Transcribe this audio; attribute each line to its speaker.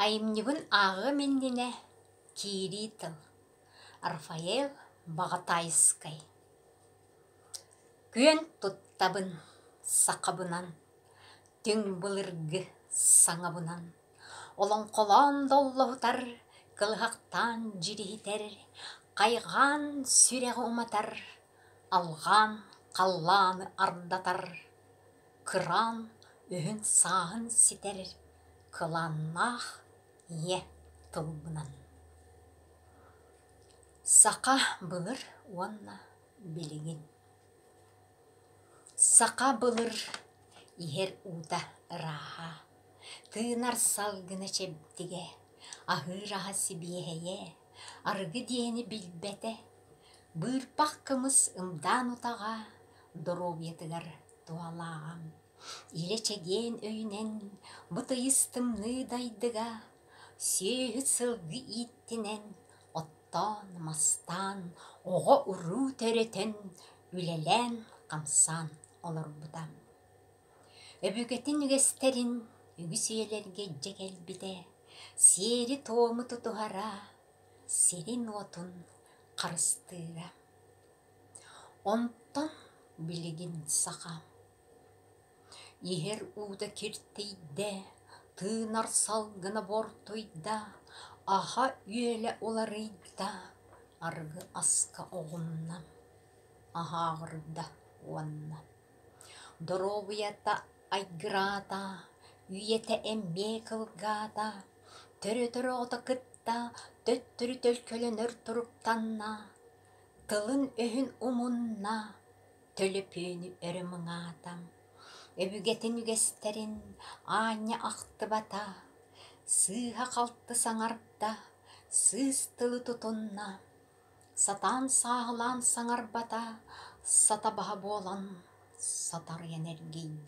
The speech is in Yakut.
Speaker 1: Айымньыбын ааҕыам иннинэ киирии тыл Рафаэль Баҕатаайыскай Күөн туттабын сахабынан Түҥ былыргы саҥабынан Олоҥхолоон доллоһутар Кылыһахтаан дьириһитэр Хайҕаан сүрэҕи уматар Алҕаан халлааны ардатар Кыраан өһүн-сааһын ситэр кылааннаах ийэ тылбынан Саха былыр уонна билигин Саха былыр иһэр уута ырааһа, тыынар салгына чэбдигэ, аһыыр аһа сибиэһэйэ Арыгы диэни билбэтэ, быырпах кымыс ымдаан утаҕа доруобуйатыгар туһалааҕа. Илэ чэгиэн өйүнэн бытыйыс тымныы дайдыга сүөһү сылгы ииттинэн оттоон, мастаан, оҕо-уруу төрөтөн, үлэлээн-хамсаан олорбута. Өбүгэтин үгэстэрин үгүс ийэлэргэ илдьэ кэлбитэ сиэри-туому тутуһара, сирин-уотун харыстыыра. Онтон билигин саха иһэр уута киртийдэ, тыынар салгына буортуйда, аһа-үөлэ уларыйда, арыгы аска оҕунна, аһааҕырда уонна Доруобуйата айгыраата, үйэтэ эмиэ кылгаата, төрөтөр оҕото кытта төттөрү төлкөлөнөр туруктанна, тылын-өһүн умунна, төлөпүөнү өрө муҥаата, өбүгэтин үгэстэрин аанньа ахтыбата, сыыһа-халты саҥарда, сыыс тылы тутунна. Сатаан сааһылаан саҥарбата, сата баһа буолан, сатарыйан эргийдэ